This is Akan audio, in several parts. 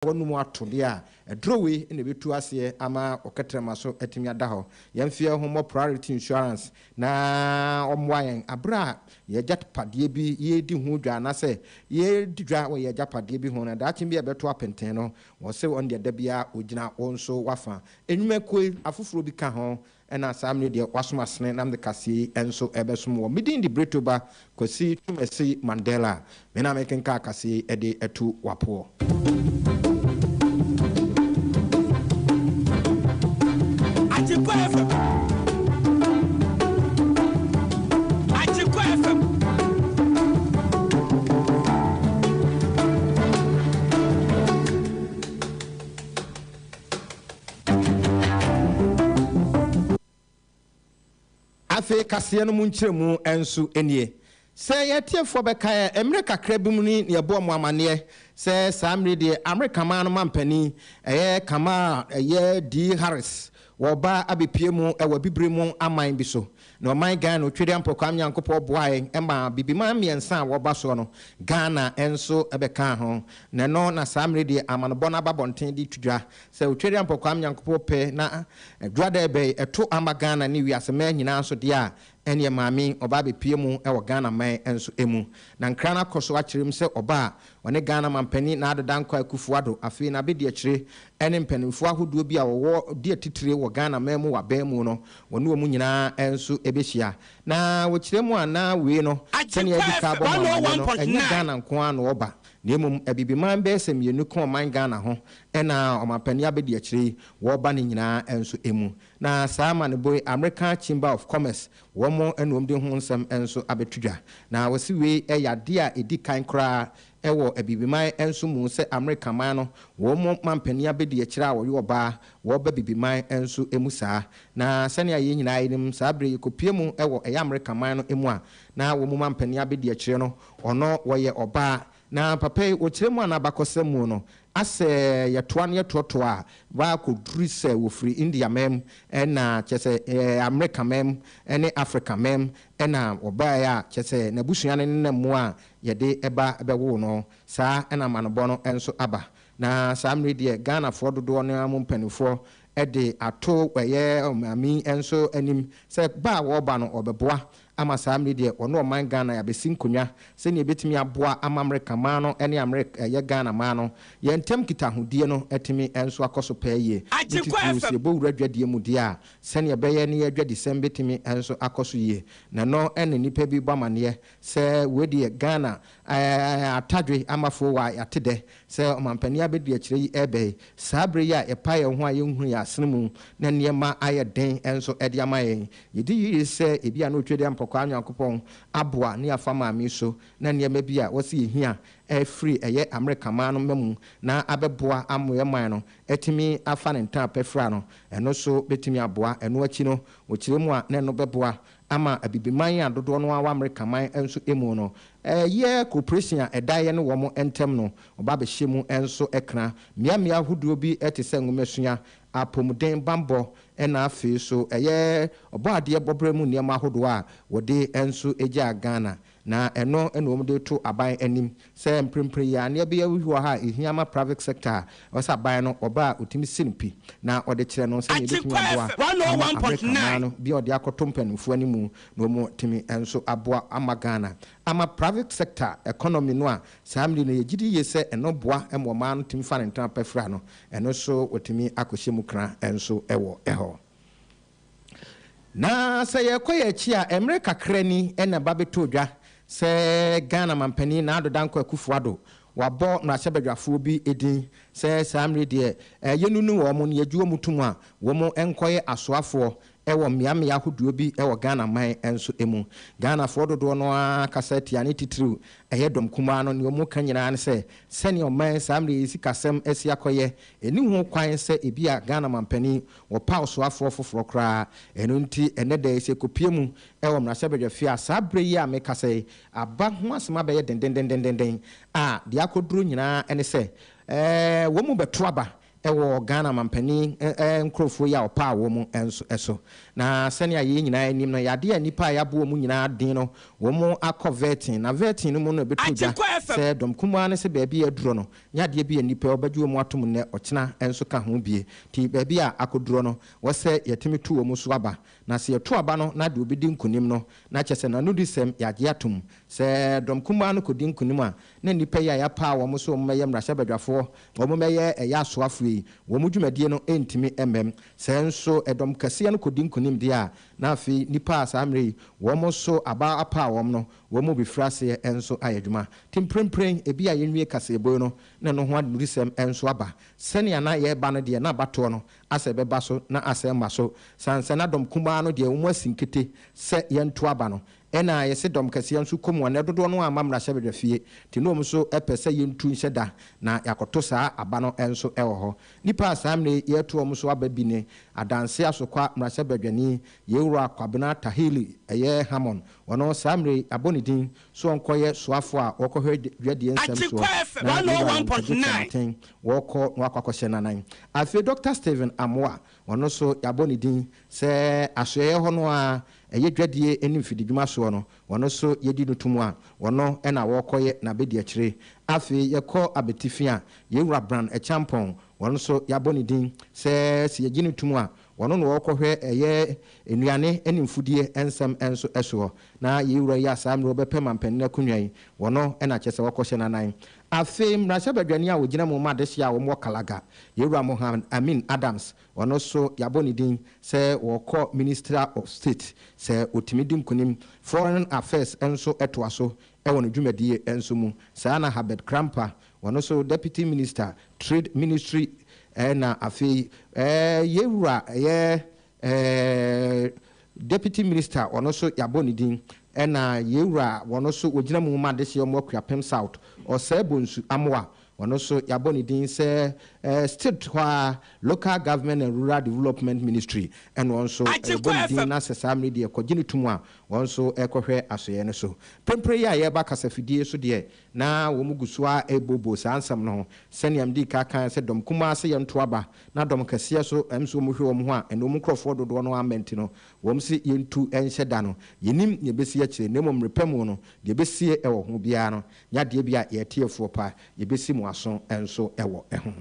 wɔnom ato deɛ a, aduro wei na ɛbɛtu aseɛ ama wo kɛtrɛma so atumi ada hɔ. Yɛn mfeɛ ho mmɔ Priority Insurance na wɔmmoa yɛn berɛ a yɛn agyapadeɛ bi, yɛredi ho dwa anaasɛ yɛredi dwa wɔ yɛn agyapadeɛ bi ho na daakye bi a ɛbɛto apenten no, wɔse wɔn deɛ da biara wɔgyina wo nso w'afa. Nnwumakuo yi, afoforɔ bi ka ho Ɛna saa mene deɛ wɔasom asene Namde Kaseɛ yi nso rebɛsom wɔn. Me din de Britto ba Kwasi Twumasi Mandela. Me na merekenkan kaseɛ yi de atu w'apoɔ. Agyenkwa FM Agyenkwa FM Afei kaseɛ no mu nkyerɛmu nso nie. Sɛ yɛn atiefoɔ bɛkae a, mmerɛ kakra bi mu ni na yɛbɔɔ mo amanneɛ sɛ saa mmerɛ yi deɛ Amerika man no mampanin, ɛyɛ Kamala, ɛyɛ Dee Harris, wɔreba abɛpue mu wɔ Abibire mu aman bi so. Na ɔman Ghana Otwedeɛ Ampɔe Kwame Nyankopɔn boae ma Bibiman mmiɛnsa a wɔba soɔ no, Ghana nso bɛkaa ho. Na ɛno na saa mmerɛ deɛ amanobɔ no aba abɔnten de reto dwa sɛ Otwedeɛ Ampɔe Kwame Nyankopɔn pɛ na Dwadɛbɛ yi ɛto ama Ghana ne wiase man nyinaa nso deɛ a, ɛneɛ Maame yi ɔba abɛpue mu wɔ Ghana man nso mu. Na nkra no akɔ so akyerɛ mu sɛ ɔba a Ɔne Ghana Manpanin Nado Dankwa Akufo-Addo, afei n'abadiakyire, ɛne mpaninfoɔ ahodoɔ bi a wɔwɔ di atitire wɔ Ghana man mu wɔ abɛn mu no, wɔne wɔn nyinaa nso bɛhyia. Na wɔkyerɛ mu a na wei no, sɛdeɛ adi ka abɔ mo amaneɛ no, ɛnyɛ Ghana nko ara na wɔba, na mmom Abibiman bɛyɛ sɛ mmienu ka ɔman Ghana ho na ɔmanpanin abadiakyire yi wɔba ne nyinaa nso mu. Na saa amanebɔ yi, American Chamber of Commerce Wɔmmɔ annuomde ho nsɛm nso abɛto dwa, na wɔse wei yɛ adeɛ a ɛdi kan koraa wɔ Abibiman nso mu sɛ Amerika man no wɔn mu mampanin abɛdi akyire a wɔyɛ ɔbaa wɔba Abibiman nso mu saa. Na sɛnea yɛn nyinaa yɛnim saa berɛ yi kɔpue mu wɔ ɛyɛ Amerika man no mu a na wɔn mu mampanin abɛdi akyire no ɔno wɔyɛ ɔbaa Na papa yi, wɔkyerɛ mu a na abakɔsɛm mu no, asɛ yɛtoa na yɛtoɔtoa a, baa kɔduru sɛ wɔfiri India mɛm, ɛna kyerɛ sɛ Amerika mɛm, ɛne Afrika mɛm, ɛna wɔbaeɛ a, kyerɛ sɛ n'abusua no nenam mu a yɛde ba bɛwoo no. Saa na amanobɔ no nso aba. Na saa mmerɛ yi deɛ, Ghanafoɔ dodoɔ no ara mu mpaninfoɔ de ato ɛyɛ ɔmaame yi nso anim sɛ ba a wɔreba no, wɔbɛboa Ama saa mmere deɛ ɔne ɔman Ghana yɛabɛsi nkonwa sɛnea yɛbɛtumi aboa ama Amerika man no ne Amerik ɛyɛ Ghana man no yɛn ntam nkitahodie no atumi nso akɔ so pɛɛ yie, ne titiriw sɛ yɛbɔ wura dwadie mu deɛ a, sɛnea ɛbɛyɛ ne yɛn dwadisɛm bɛtumi nso akɔ so yie. Na ɛno na nnipa bi bɔ amaneɛ sɛ wei deɛ Ghana ɛɛ atadwe amafoɔ wɔ a yɛate dɛ Sɛ ɔmampanin abadiakyire yi reba yi, saa bere yi a yɛpae yɛn ho a yenhunu yɛn asene mu na nneɛma ayɛ den nso de ama yɛn. Yedi yiye sɛ ebia na otwa dua mpɔkwaa Onyankopɔn aboa ne yɛafa maame yi so na nneɛma bi a wɔse yehia afiri ɛyɛ Amerika man no mma mu na abɛboa ama yɛn man no atumi afa ne ntɛn apɛ fira no. Ɛno nso betumi aboa. Ɛno akyi no, wɔkyerɛ mu a na ɛno bɛboa Ama Abibiman a dodoɔ no ara wɔ Amerikaman nso mu no, ɛyɛ koopresin a ɛda yɛne wɔn ntam no, ɔba bɛhyɛ mu nso kra. Mmeammea ahodoɔ bi te sɛ nwomasua, apomuden bammɔ, ɛna afei nso ɛyɛ ɔbɔadeɛ bɔberɛ mu nneɛma ahodoɔ a wɔde nso gyaa Ghana. Na ɛno na wɔn de to aban anim sɛ mprempren yi ara no yɛbɛyɛ huhuaha a ɛhia ama private sector a ɛwɔ sɛ aban no ɔba a ɔtumi si no pi na ɔde kyerɛ no sɛnea ɛbɛtumi aboa ama Amerika mmaa no bi a ɔde akɔto mpaninfoɔ anim na wɔn atumi nso aboa ama Ghana ama private sector economy no a saa mmere yi no yɛgyedi yie sɛ ɛno boa ma ɔmaa no tumi fa ne ntama pa fira no ɛno nso wɔtumi akɔhyɛ mu kra nso wɔ hɔ. Na sɛ yɛkɔ yɛn akyi a, mmerɛ kakra ni na ɛba bɛtoo dwa sɛ Ghana Mampanin Nado Dankwa Akufo-Addo wabɔ mmarahyɛbadwafoɔ bi din sɛ saa mmerɛ yi deɛ yɛnnunu wɔn na yɛgye wɔn tom a wɔn nkɔyɛ asoafoɔ wɔ mmeammea ahodoɔ bi wɔ Ghana man nso mu. Ghanafoɔ dodoɔ no ara kasa atia ne titiriw ɛyɛ dɔm kumaa no. Deɛ wɔka nyinaa ne sɛ sɛdeɛ ɔman saa mmerɛ yi sikasɛm asi akɔyɛ, ɛnni ho kwan sɛ ebia Ghana Mampanin Wɔpaw soafoɔ foforɔ koraa. Ɛno nti, ɛnnɛ da yi, sɛ yɛkɔpue mu wɔ mmarahyɛbadwafie a saa berɛ yi a mekasa yi, aba ho asɛm abɛyɛ dendendenden a, deɛ akɔduru nyinaa ne sɛ, wɔn mu bɛto aba wɔ Ghana mampanin nkurɔfoɔ yi a wɔpaw wɔn mu nso so. Na sɛnea yɛn nyinaa nim no, ɛyɛ adeɛ a nnipa a yɛabɔ wɔn nyinaa din no, wɔakɔ vetting, na vetting no mu no ɛbɛto dwa sɛ dɔm kumaa no sɛ baabi a aduro no, Nyɛ adeɛ bi ɛnipɛ wɔbɛgye wɔn atom nnɛ ɔkyena nso ka ho bie nti baabi a akɔdurɔ no wɔsɛ yɛtumi to wɔn so aba na sɛ yɛto aba no na deɛ ɔbɛdi nkunim no na kyɛsɛ nanodisɛm yɛagye atom sɛ dɔm kumaa no kɔdi nkunim a na nnipa yi a yɛapaa wɔn sɛ wɔn mɛyɛ mmarahyɛbadwafoɔ wɔn mɛyɛ ɛyɛ asoafoɔ yi wɔn dwumadie no ɛntumi mmam sɛ nso dɔm kɛseɛ no kɔdi nkunim deɛ a na afei nnipa a saa mmerɛ yi wɔn so aba apaa wɔn no Wɔbefiri aseɛ nso ayɛ adwuma. Te mprempren, ebia yɛnwie kaseɛbue no na ɛno ho adurusɛm nso aba. Sɛnea na yɛreba no deɛ, na abatoɔ no asɛ bɛba so na asɛ mma so. Sansana dɔm kumaa no deɛ, wɔasi nkete sɛ yɛnto aba no. Ɛnna a yɛse dɔm kɛseɛ nso kɔ mu a, na dodoɔ no ara mma mmarahyɛbadwafie. Te na wɔn nso pɛ sɛ yɛntu nhyɛ da na yɛakɔto saa aba no nso wɔ hɔ. Nnipa a saa mmerɛ yi yɛreto wɔn nso aba bi ne Adanse Asokwa mmarahyɛbadwani, Yei Wura Kwabena Tahili, ɛyɛ Hammond, Ɔno, saa mmerɛ yi, yɛabɔ ne din sɛ ɔnkɔyɛ soafoɔ a ɔrekɔhwɛ dwadie nsɛm soɔ, na Lebanon agyeframa ntɛn wɔrekɔ na wɔakɔ akɔhyɛ no anan. Afei Dɔkta Stephen Amoah, ɔno nso, yɛabɔ ne din sɛ asoɛeɛ hɔ no ara a ɛyɛ dwadie ne mfididwuma soɔ no, ɔno nso yɛadi no tom a ɔno na ɔrekɔyɛ n'abɛdiakyire. Afei yɛkɔ abatifi a, Yɛn Wura Bran Akyeampong, ɔno nso, yɛabɔ ne din sɛ sɛ yɛgye no tom a, Wɔno na wɔkɔhwɛ ɛyɛ nnuane ne mfudie nsɛm nso soɔ. Na yei wura yi a saa mmerɛ ɔbɛpɛ manpanin akonnwa yi, wɔno na kyerɛ sɛ wɔkɔhyɛ n'anan. Afei mmarahyɛbadwani a ɔgyina mu ma adehyeɛ a wɔwɔ Kalaga, Yɛwura Mohamed Amin Adams, ɔno nso yɛabɔ ne din sɛ ɔrekɔ Minister of State sɛ ɔtumi di nkunim. Foreign Affairs nso toa so wɔ ne dwumadie nso mu. Saa na Herbert Krampa Ɔno nso Deputy Minister Trade Ministry na afei yɛn wura ɛyɛ Deputy Minister ɔno nso yɛabɔ ne din ɛna yɛn wura ɔno nso ɔgyina mu ma adehyeɛ ɔmo Akuapem South Ɔsɛɛ Bonsu Amoa ɔno nso yɛabɔ ne din sɛ Stilt hɔ ara Local Government and Rural Development Ministry ɛna ɔno nso yɛbɔ ne din na sɛ saa mmere deɛ kɔgye no to mu a ɔno nso ɛkɔhwɛ asoɛɛ no so. Prempren yi a yɛreba kasafidie so deɛ Ná wɔgu so ara rebooboo saa nsɛm no ho. Sɛnea midii kan kae sɛ dɔm kumaa se yɛntow aba, na dɔm kɛseɛ nso ɛm sɛ wɔhwɛ wɔn ho a ɛne wɔn nkurɔfoɔ dodoɔ no ara mma nti no, wɔn se yɛntu nhyɛ da no. Yɛnnim nea ɛbɛsi akyire, na mmom mmerɛ pa mu no, deɛ ɛbɛsie wɔ ho biara no, nyɛ adeɛ bi a yɛn atiefoɔ pa, yɛbɛsi mo aso nso wɔ ho.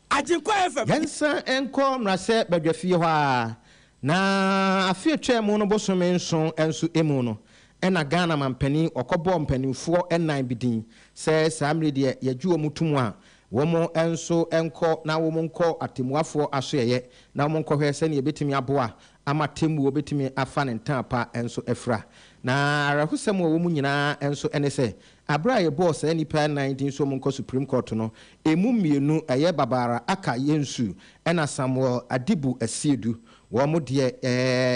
Agyenkwa FM. Yɛnsan nkɔ mmarahyɛ badwafie hɔ ara, na afe a ɛtwaa mu no bosome nson nso mu no, ɛna Ghana manpanin ɔkɔbɔɔ mpanimfoɔ nnan bi din sɛ saa mmerɛ yi deɛ yɛgye wɔn to mu a wɔn nso nkɔ na wɔn nkɔ atɛmmuafoɔ asoɛeɛ na wɔn nkɔhwɛ sɛdeɛ ɛbɛtumi aboa ama atɛmmuo bɛtumi afa ne ntɛn pa nso afira. Na awerɛhosɛm wɔ wɔn nyinaa nso ne sɛ Bere a yɛbɔɔ saa nnipa nnan din so monkɔ Supreme Court no, emu mmienu, ɛyɛ Babara Aka Yensu ɛna Samuel Adibu Asiedu, wɔn deɛ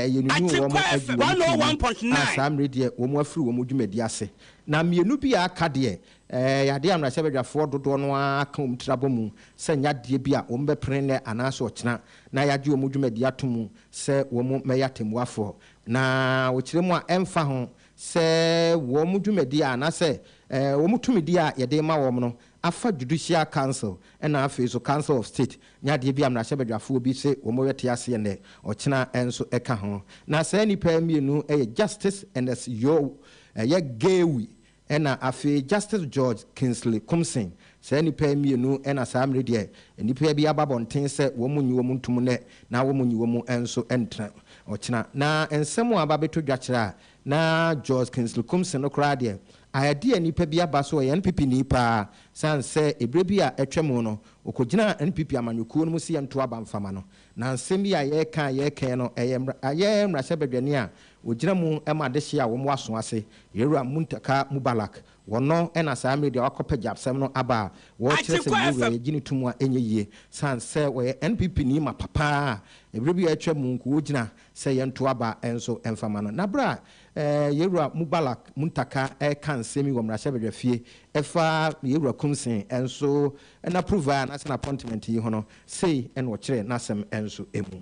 yɛnunuu wɔn agu wɔn ti mu a saa mmere deɛ wɔn afiri wɔn dwumadi ase. Na mmienu bi a aka deɛ, ɛyɛ adeɛ a mmarahyɛbadwafoɔ dodoɔ no ara aka wɔn tiri abɔ mu sɛ ɛnyɛ adeɛ bi a wɔbɛpene nnɛ anaasɛ ɔkyena na yɛagye wɔn dwumadi ato mu sɛ wɔmmɛyɛ atɛmmuafoɔ. Na wɔkyerɛ mu a ɛmfa ho sɛ wɔn dwumadi anaasɛ wɔn tumidi a yɛde rema wɔn no afa Judicial Council na afei nso Council of State ne adeɛ bi a mmarahyɛbadwafoɔ bi se wɔrete aseɛ nnɛ, ɔkyena nso ka ho. Na saa nnipa yi mmienu yɛ Justice Ernest Yeo, ɛyɛ Gawi, ɛna afei Justice George Kingsley Kumsing, Saa nnipa yi mmienu na saa mmere deɛ nnipa bi aba abɔnten sɛ wɔn nnye wɔn ntom nnɛ na wɔn nnye wɔn nso ntra ɔkyena. Na nsɛm a aba abɛtɔ dwa kyerɛ a na George Kingsley Kum se no koraa deɛ, ayɛ deɛ nnipa bi aba so ɔyɛ NPP ni paa sane sɛ ɛberɛ bi a atwa mu no ɔkɔgyinaa NPP amanyɔkuo no mu se yɛnto aba mfa ma no. Na nsɛm yi a yɛreka a yɛreka yi no ɛyɛ ɛyɛ mmarahyɛbadwani a ɔgyina mu ma adehye a wɔwɔ aso ase Yɛwura Muntaka Mubalak Wɔno na saa media wakɔpɛ gyapsɛm no aba a wɔrekyerɛ sɛ yei wura yi gye no to mu a ɛnyɛ yie sane sɛ ɔyɛ NPP ni mapa paa a ɛberɛ bi a atwa mu nko ɔgyina sɛ yɛnto aba nso mfa ma no. Na berɛ a Yɛwura Mubalak Muntaka reka nsɛm yi wɔ mmarahyɛbadwafie ɛfa Yɛwura Kumsey nso n'approval anaasɛ n'appointment yi ho no, sei na ɔkyerɛɛ n'asɛm nso mu.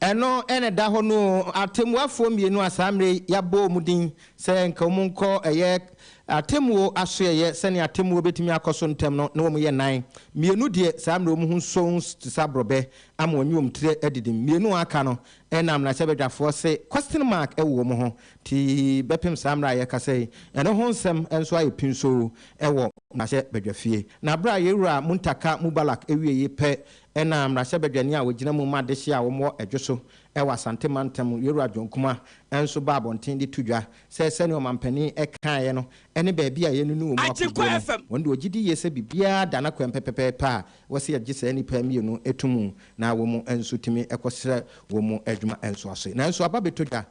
Ɛno na ɛda hɔ no oo. Atɛmmuafoɔ mmienu a saa mmerɛ yi yɛabɔ wɔn din sɛ nka wɔn nkɔ ɛyɛ atɛmmuo asoɛeɛ sɛdeɛ atɛmmuo bɛtumi akɔ so ntɛm no, na wɔn yɛ nnan. Mmienu deɛ saa mmerɛ yi wɔn ho nsɔ nsu te sɛ aborɔbɛ ama wɔnye wɔn tiri adidim. Mmienu a aka no na mmarahyɛbadwafoɔ se question mark wɔ wɔn ho nti bɛpem saa mmerɛ a yɛrekasa yi. Ɛno ho nsɛm nso ayɛ pinsoo wɔ mmarahyɛbadwafie. Na berɛ a yɛn wura Muntaka Mubalak wieeɛ pɛ Ɛna mmarahyɛbadwani a ɔgyina mu ma adehyeɛ a wɔwɔ dwo so wɔ Asante mantam mu, Yowura John Kumah nso baa abɔnten de to dwa sɛ sɛdeɛ ɔmanpanin kaeɛ no ne baabi a yɛnunu wɔn akoguo no, wɔn de wɔgye di yie sɛ biribiara da n'akwan pɛpɛpɛpɛ a wɔse yɛgye saa nnipa mmienu to mu na wɔn nso tumi kɔsrɛ wɔn adwuma nso ase. Nanso aba bɛtɔ dwa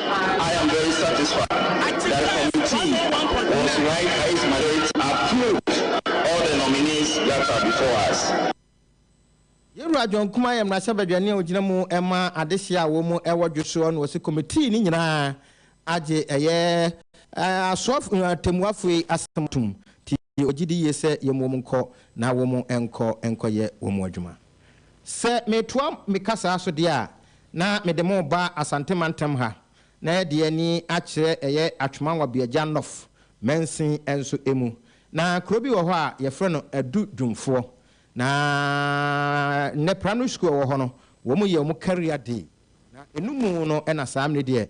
I am very satisfied that the committee was right highest majority approved all the nominees that are before us. Yɛwura John Kumah yɛ mmarahyɛbadwani a ɔgyina mu ma adehyeɛ a wɔn mu wɔ dwosoɔ na ɔse committee no nyinaa agye ɛyɛ asoɔf atɛmmuafoɔ yi asɛm atom nti ɔgyedi yie sɛ yɛmmu wɔn nkɔ na wɔn nkɔ nkɔyɛ wɔn adwuma. Sɛ metoa me kasaa so deɛ a, na mede mo reba Asante mantam ha, na ɛde ani akyerɛ ɛyɛ Atwoma-Nwabeagya Nɔf mansin nso mu. Na kuro bi wɔ hɔ a yɛfrɛ no Adu Dwumfoɔ. Na nnɛ Primary School a ɛwɔ hɔ no, wɔn yɛ wɔn Career Day. Na ɛnumu no na saa mmerɛ deɛ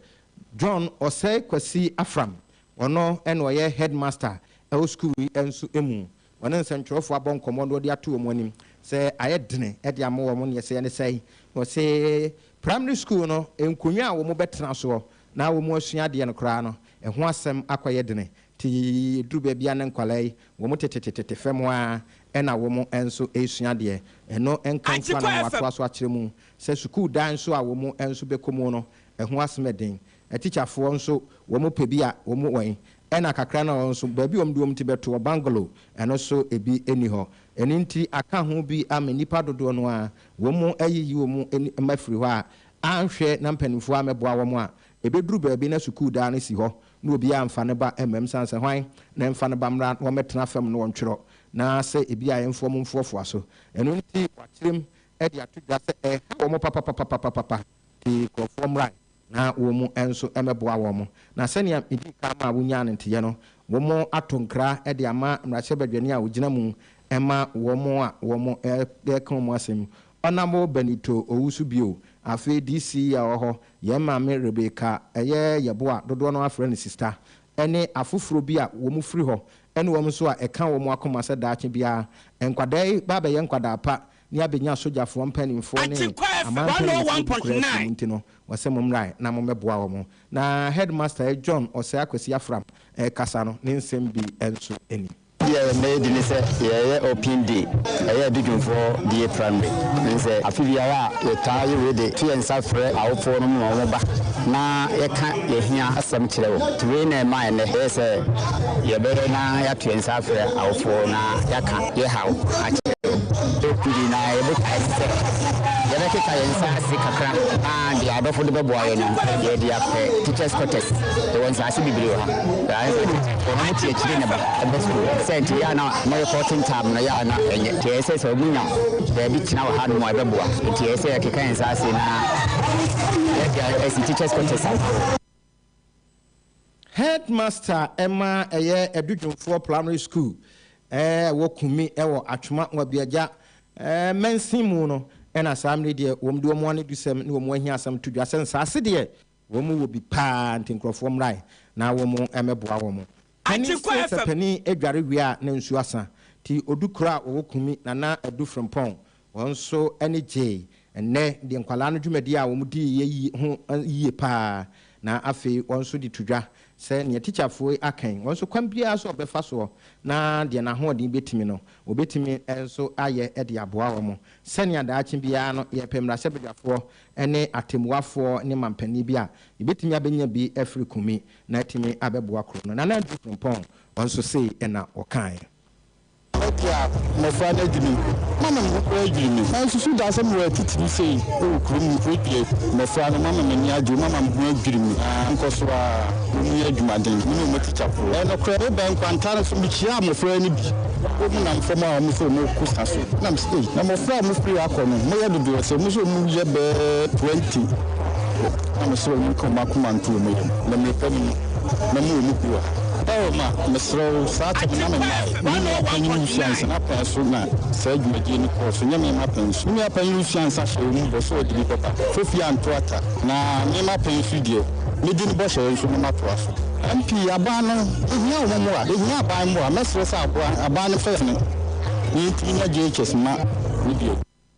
John Ɔsɛe Kwasi Afram, ɔno na ɔyɛ Headmaster wɔ sukuu yi nso mu. Wɔne nsɛnkyerɛwfo abɔ nkɔmmɔ na wɔde ato wɔn anim sɛ ayɛ dene de ama wɔn nea ɛsɛ ne sɛe. Wɔse Primary School no nkonnwa a wɔbɛtena soɔ na wɔasua adeɛ no koraa no, ɛho asɛm akɔyɛ dene te ɛduru baabi a ne nkwadaa yi wɔn tetetete fam ara na wɔn nso resua adeɛ. Ɛno nka nso a na wɔatoa so akyerɛ mu sɛ sukuu dan nso a wɔn nso bɛkɔ mu no, ɛho asem yɛ den. Atikyafoɔ nso wɔn pɛ bi a wɔn wɔ he? Ɛna kakra no a wɔn nso baabi a wɔn de wɔn ti bɛto wɔ bungalow ɛno nso ebi nni hɔ. Ɛno nti aka ho bi ama nnipa dodoɔ no ara wɔn ayiyi wɔn ani ma afiri hɔ a anhwɛ na mpanimfoɔ ammɛboa wɔn a, ɛbɛduru baabi na sukuu daa no si hɔ na obiara mfa ne ba mmam sane sɛ hwan na ɛmfa ne ba mmra na wɔmmɛtena fam na wɔntwerɛ na sɛ ebi a ɛmfoɔ mo mfoɔfoa so. Ɛno nti wɔakyerem de ato dwa sɛ ɛha wɔn papapapapapapa. de nkurɔfoɔ mmrae na wɔn nso mmɛboa wɔn. Na sɛnea medii kan maa wonyaa no nteyɛ no, wɔato nkra de ama mmarahyɛbadwani a ɔgyina mu ma wɔn a wɔka wɔn asɛm, Honourable Benito Owusu bio. Afei DC a ɔwɔ hɔ, yɛn maame Rebecca ɛyɛ Yɛbo a dodoɔ no ara frɛ no sista, ɛne afoforɔ bi a wɔfiri hɔ ne wɔn nso a ɛka wɔn akoma sɛ daakye biara nkwadaa yi bɛabɛyɛ nkwadaa pa ne abenya sogyafoɔ mpaninfoɔ ne amanpɛne foɔ bi koraa afiri mu nti no wɔse mommrae na mommɛboa wɔn na headmaster John Osei Akwasi Afram rekasa no ne nsɛm bi nso ni. Deɛ yɛmmɛyɛ bi ne sɛ yɛyɛ open day ɛyɛ Adudwomfoɔ BA primary ne sɛ afe biara a yɛtaa yɛ wei de to yɛn nsa frɛ awofoɔ no ma wɔn ba na yɛka yɛn hia asɛm kyerɛ wɔn nti wei na ɛmaa ɛnnɛ yɛyɛ sɛ yɛbɛyɛ na yɛato yɛn nsa afrɛ awofoɔ na yɛaka yɛ haw akyɛr no, ber kor bi na yɛbɔkae dɛ yɛbɛkeka hɛn nsaase kakra ara de a adɔfo no bɔboa hɛn no yɛdze akɔ teachers quarters. Yɛwɔ nsaase beberee wɔ ha. Nna yɛdze teacher hɔn mu kyerɛkyerɛnyi na ba ba skuul. Siantsir yɛ a na wɔrokɔ tsentam no yɛ a na enye, ntsi ɔyɛ sɛ sɛ wonya beebi tsena wɔ hanom a ɔbɛboa. Ntsi ɔyɛ sɛ yɛkeka hɛn nsaase na yɛdze asi teachers quarters ano. Headmaster ma ɛyɛ Adudwomfoɔ Primary School a ɛwɔ Kunmi wɔ Atwoma Wabiagya mansin mu no na saa mmere deɛ wɔn de wɔn anidusɛm ne wɔn ahiasɛm to dwa sɛ nsaase deɛ wɔn wɔ bi paa nti nkurɔfoɔ mmrae na wɔn mmɛboa wɔn Panyin see sɛ panin adware wie a na nsu asa. Nti odu kuro a wɔwɔ Kunmi na na adu Frimpong. Wɔn nso ani gyee. Ɛnnɛ deɛ nkwadaa no dwumadie a wɔn dii yɛ yi ho yie pa ara. Na afei wɔn nso de to dwa sɛ nea tikyafoe aka yi, wɔn nso kwan biara so a wɔbɛfa soɔ na deɛ n'ahoɔden bɛtumi no, wɔbɛtumi nso ayɛ de aboa wɔn. Sɛnea daakye biara no, yɛrepɛ mmarahyɛbadwafoɔ ne atɛmmuafoɔ ne manpanin bi a yɛbɛtumi abɛnya bi afiri Kunmi. na atumi abɛboa kuro no. Nana Andrew Frimpong nso sei na ɔkaeɛ. Mɛte a, mmɔfra no adwiri me, mama me ho koraa adwiri me. Mansusu da sɛ mewɔ atitire sei wɔ kuro mu mpo. Ebia mmɔfra no, mama m'ani agye wɔn, mama me ho adwiri me ara. Nkɔ so ara, wɔnyɛ adwumaden, me ne wɔn atikya koro. Ɛyɛ nokorɛ, mebɛn kwantaa no so, mekyiaa mmɔfra no bi, wɔn nam fam a wɔn sɛ wɔrekɔ sa so. Na mese, ei, na mmɔfra a wɔfiri hɔ akɔ no, moyɛ dodoɔ sɛn? Mose wɔn mu yɛ bɛɛ twenty. Na mesrɛ wo nka wɔn akoma nto wɔn yam, na mmirika mu no, mɛma wɔn mu bi wɔ ha. Oh, ma, mesrɛ wo, saa tam na memae. Me nua panyin resua nsa, n'apɛn so na saa dwumadie no kɔɔ so, nyɛ me m'apɛn so. Me nua panyin resua nsa hyɛɛ wɔn mu bɔ sɛ ɔde bi bɛba, Kofi anto ata, na me m'apɛn so deɛ, mɛdi ne bɔhyɛ yɛ nso na matoa so. MP, aban no, yɛhia wɔn mmoa, yɛhia aban mmoa, mɛsrɛ sɛ aboa, aban no mfa yɛn ne yɛn ntini na JHS mma no bio.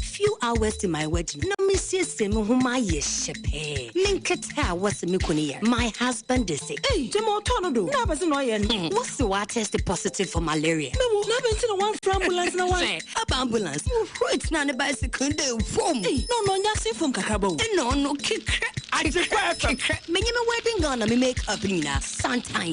Few hours to my wedding, na mesiesie me ho ma ayɛ hyɛ pɛɛ. Me nkete a wɔse me kunu yɛ, my husband de se. Ei! Gyama ɔtɔ no do, na apɛ se na ɔyɛ no. Hmm, wɔse watɛste positive for malaria. Me wo, na adɛn nti na wamfrɛ ambulance na wa. Sɛ aba ambulance, Ruth na ne bicycle de fom. Ei! Na ɔno ɔnyɛ asen fom kakraba o. Ena ɔno kekrɛ, adepa kekrɛ. Menye me wedding gown na me make up no nyinaa, santan.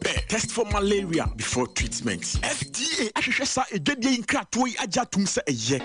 pɛ test for malaria before treatment. FDA ahwehwɛ saa adwadie yi nkratoɔ yi agye atom sɛ ɛyɛ.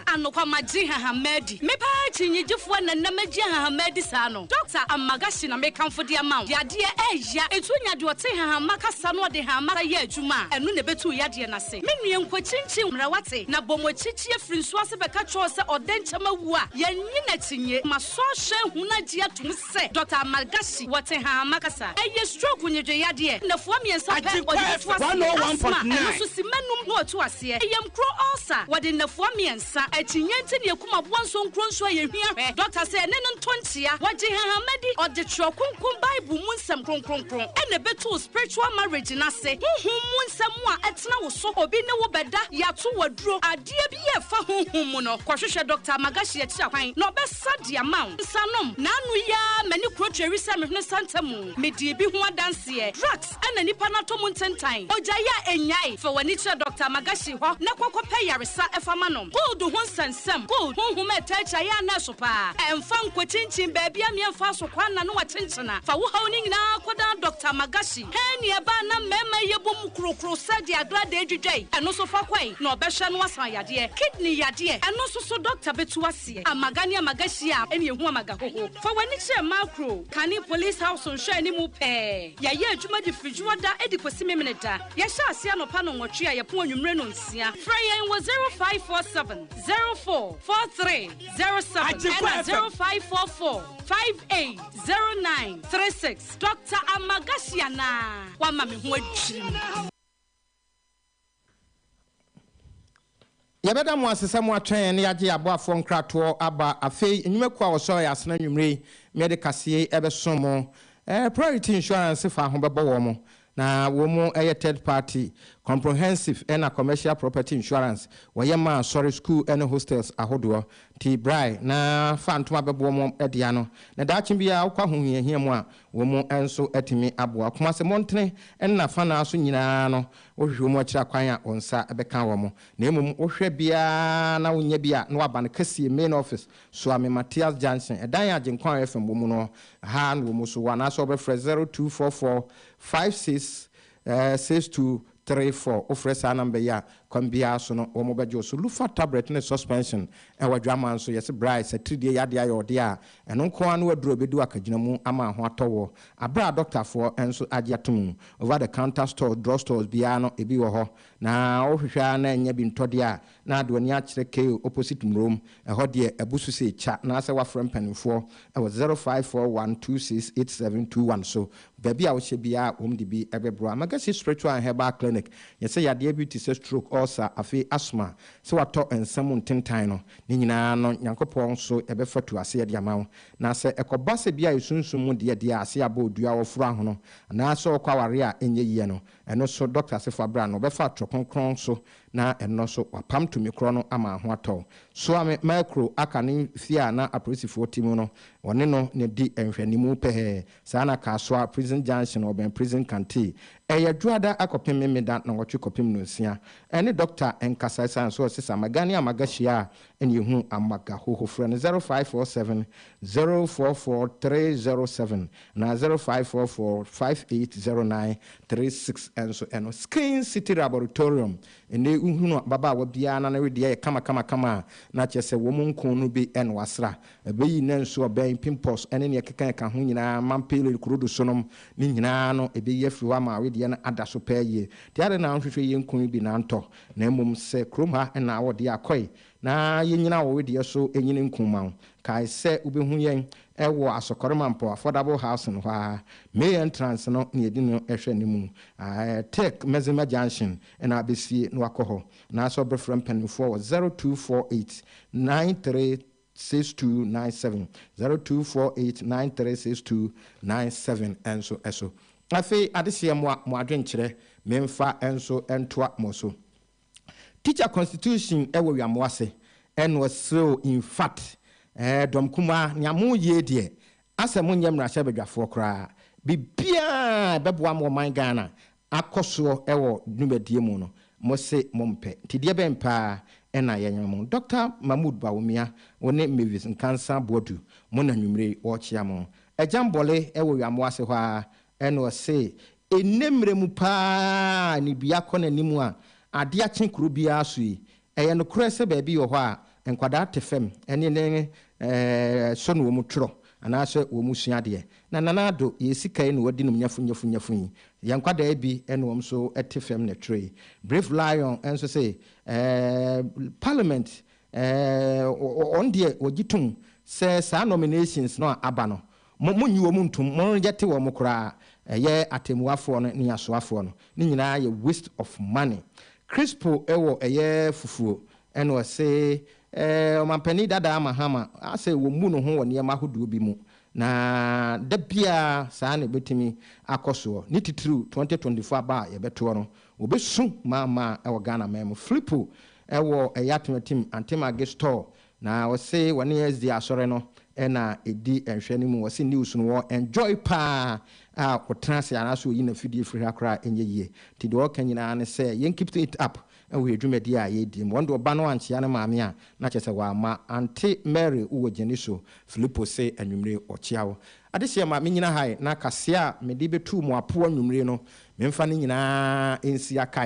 anokwa magye hahama adi me paa akyinnyegyefoɔ na nam agye hahama adi saa no dɔkta amagashi na mekamfo de ama wo yadeɛ ɛya ɛtu nya deɛ ɔte hahama kasa no ɔde hahama sa yɛ adwuma a ɛno na ɛbɛtu yadeɛ no ase me nua nkɔkyinkyin mmara wate na bɔ mo akyikyi afiri nso ase bɛka kyerɛw sɛ ɔdɛ nkyɛm awu a yɛnye n'akyinye masɔ ahyɛ hunu agye atom sɛ Dɔkta Amal Ghashi wɔ Tehranma kasa. Ɛyɛ stroke nnwedwe yadeɛ. Nnafua mmiɛnsa pɛ ɔde bɛto aseɛ. Asthma, ɛno nso simma nnum na ɔto aseɛ. Ɛyamkuro, ulcer, wɔde nnafua mmiɛnsa. Akyinnye nti ne akum aboa nsonkuro nso a yɛhia hwɛ. Dɔkta sɛ ɛne no ntɔ nkyea. Wɔgye Nhahanma di. Ɔde Twerɛ Kronkron Bible mu nsɛm kronkronkron na ɛbɛtu wo spiritual marriage no ase. Honhom mu nsɛm a ɛtena wo so, obi ne wo bɛda, yɛato wo aduro, adeɛ biara a ɛfa honhom mu no, kɔhwehwɛ Dɔkta Amal Ghashi akyiri akwan na ɔbɛ. Sa de ama wo nsa nom. Naanu yi ara m'ani kuro tweri sɛ me hwene santa mu. Me dii bi ho adanseɛ. Drugs na nipa no atɔ mu ntentan. Ogya yi a ɛnnyae. Fa w'ani kyerɛ Doctor Magashi hɔ na kɔ kɔ pɛ yaresa fa ma no. Cold ho nsɛnsɛm, cold, honhom a ɛtaa kyia yɛ a nɛɛso paa. Ɛnfa nkɔ kyinkyin baabi a mmea mfaa so kwan na no akyenkyena. Fa wo haw no nyinaa kɔ dan Doctor Magashi. Hɛn ni ɛbaa na mmɛɛma yɛ bom kuro kuro sɛ deɛ agradaa dwidwa yi. Ɛno nso fa kɔe na ɔbɛhwɛ na wasan yadeɛ. Kidney yadeɛ, ɛno nso so Doctor bɛtu ase. aseɛ amaga ne amaga hyia a ɛne ɛhu amaga hoho fa w'ani kyerɛ macro kane police house nhwɛ anim pɛɛ yɛyɛ adwuma de firi dwoɔ da ɛde kɔsi memene da yɛhyɛ aseɛ anɔpa no nwɔtwe a yɛpo anwummere no nsia frɛ yɛn wɔ 0547 04 43 07 ɛna 0544 58 09 36 Doctor Amaga hyia naa wama me ho adwiri mu. Yɛbɛda mo ase sɛ mo atwɛn yɛn na yɛagye yɛn aboafoɔ nkratoɔ aba. Afei, nnwumakuo a wɔsɔre yɛ asena anwummere yi, meɛde kaseɛ yi bɛsom mo. Eh, Priority Insurance faa ho bɛbɔ wɔn, na wɔn yɛ Third Party, Comprehensive ɛna Commercial Property Insurance. Wɔyɛ ma asɔre, sukuu ɛne hostels ahodoɔ. Nti brae na fa ntoma bɛboɔ wɔn dea no, na daakye biara wokɔ ahohiahia mu a, wɔn nso atumi aboa wo. Kumase mmɔntene ɛne n'afanaa so nyinaa no, Wohwehwɛ wɔn akyiri akwan a wɔn nsa bɛka wɔn, na mmom wohwɛ biara na wonnya bi a, na wɔaba no kɛseɛ, main office, Suame Matthias Junction, ɛdan a Agyenkwa FM wɔ mu no ha na wɔn nso wɔ, anaasɛ wobɛfrɛ 0244 56 6234, wofrɛ saa number yi a, kwan biara so no wɔbɛgye wo so. Lufa Tablet ne Suspension wɔ Adwaman nso, yɛse bra, ɛsɛ atiridie yadeɛ ayɛ ɔdeɛ a Ɛno nko ara no aduru a ɛbɛdu akagyina mu ama ho atɔ woɔ, berɛ a dɔktafoɔ nso agye atom. Over the counter stores, drug stores, biara no ebi wɔ hɔ, na wohwehwɛ ara na nnya bi ntɔ deɛ a, na de w'ani akyerɛ Kale opposite Murom. Ɛhɔ deɛ abu so sei kya, anaasɛ woafrɛ mpanimfoɔ wɔ zero five four one two six eight seven two one so. Baabi a wohyɛ biara wɔn de bi bɛboa. Magasi Spiritual and Herbal Clinic, Yɛsɛ yadeɛ bi te sɛ stroke, ulcer, afei asthma, Sɛ wɔatɔ nsɛm mu ntentan no, ne nyinaa no Nyankopɔn so bɛfatu ase de ama wo. Na sɛ ɛkɔba sɛ bi a esunsum mu deɛ deɛ ase abɔ odua a wɔforo ahono, anaa sɛ ɔkɔ awareɛ a ɛnyɛ yie no, ɛno so dɔkta se fa bra na ɔbɛfa atorɔ kronkron so, na ɛnnɔ so wapam tumi korɔ no ama aho atɔ wo. Soa me ma akuro aka ne fie a na apolisifoɔ te mu no, wɔne no na ɛdi nhwɛanimu pɛɛ, Saa na Kasoa, Prison Junction, ɔbɛn Prison Kantee, ɛyɛ Dwoada akɔpem Memeda Nɔnwɔtwe kɔpem Nonsia, ɛne Dɔkta nkasa ɛsan so ɔse sa maga ne amaga hyia a ɛne yɛhu amaga hoho frɛ no 0547 044 307 anaa 0544 5809 36 ɛnso ɛno Skin City Raborotorium ɛnɛ wohunu ababaawa biara na ne wedeɛ yɛ kama kama kama a na kyerɛ sɛ wɔn nko no bi na wasra Ɛbɛyi nna nsu ɔbɛn, pimples, ne nea ɛkeka ɛka ho nyinaa, mampele, kurodosonom, ne nyinaa ano, ɛbɛyi afiri hɔ ama wedeɛ no ada so pɛɛ yie. Nti adɛn na wonhwehwɛ yɛn nkuro yi bi na antɔ, na mmom sɛ kurom ha na awɔ deɛ akɔe na yɛnyini awɔ wedeɛ so nyini nku ma wo. Kae sɛ wobɛhu yɛn wɔ Asokore Mampɔ Affordable Housing hɔ ara, May entrance no nea ɛdi no hwɛ no mu, Tech Medzima Junction na wabɛsie na wakɔ hɔ, anaasɛ wobɛfrɛ mpanimfoɔ wɔ 0248 93 six two nine seven, zero two four eight nine three six two nine seven nso so. Afei adehyeɛ moa mo adwenkyerɛ memfa nso ntoa mo so. Teacher constitution wɔ wiamoa se ɛno ɛsere o infact ɛɛ dɔm kumaa nea mo yie deɛ asɛ mo nyɛ mmarahyɛbadwafoɔ koraa bibiaa ɛbɛboa mo ɔman Ghana akɔ soɔ wɔ dwumadie mu no, mo se mo mpɛ. Nti deɛ bɛn paa na yɛnyɛ mo? Dɔkta Mahmood Bawumia, wo ne Mavis Nkansah Boadu, mo na anwumerɛ yi wɔrekyea mo. Agyan Bole wɔ Wɛamoa ase hɔ ara na ɔse, Nnɛ mmerɛ mu paa a anibiakɔ n'anim a adeɛ akye kuro biara so yi, Ɛyɛ nokorɛ sɛ baabi wɔ hɔ a nkwadaa te fam ne ne sɔ na wɔn twerɛ anaasɛ wɔn sua adeɛ. Na Nana Addo, yɛn sika yi na wɔadi nom nyafu nyafu nyafu yi. Yɛn nkwadaa bi na wɔn nso te fam na twerɛ yi. Brave Lion nso se eh, Parliament eh, wɔn deɛ wɔgye tom sɛ saa nominations no a aba no, Mo, monnyi wɔn ntom, monngyɛte wɔn koraa, ɛyɛ atɛmmuafoɔ no ne asoafoɔ no, ne nyinaa yɛ waste of money. Crispo wɔ ɛyɛ fufuo, ɛna ɔse eh, Ɔmanpanin Dadaa Mahama asɛ wɔmmu ne ho wɔ nneɛma ahodoɔ bi mu, na da biara saa na ɛbɛtumi akɔ soɔ, ne titiriw 2024 aba a yɛbɛtoɔ no, wɔbɛsu maa maa wɔ Ghana man mu. Flipo wɔ ɛyɛ Atemeatem Antemage store, Na wɔse wɔne SD asɔre no na ɛdi nhwɛ no mu. Wɔse news no wɔ enjoy paa a ɔtena ase anaasɛ ɔyi n'afidie firi ha koraa a ɛnyɛ yie. Nti deɛ ɔka nyinaa ne sɛ yɛn keep it up wɔ yɛn dwumadie a yɛredi mu. Wɔn deɛ ɔba no ankyea ne maame a na kyerɛ sɛ wamma. Ante Mary wowɔ gyani so. Filipo se anwummere ɔkyea wo. Adehyeɛ ma menyina ha ɛ na kaseɛ a mede bɛtu mo apo anwummere no memfa ne nyinaa nsi akae.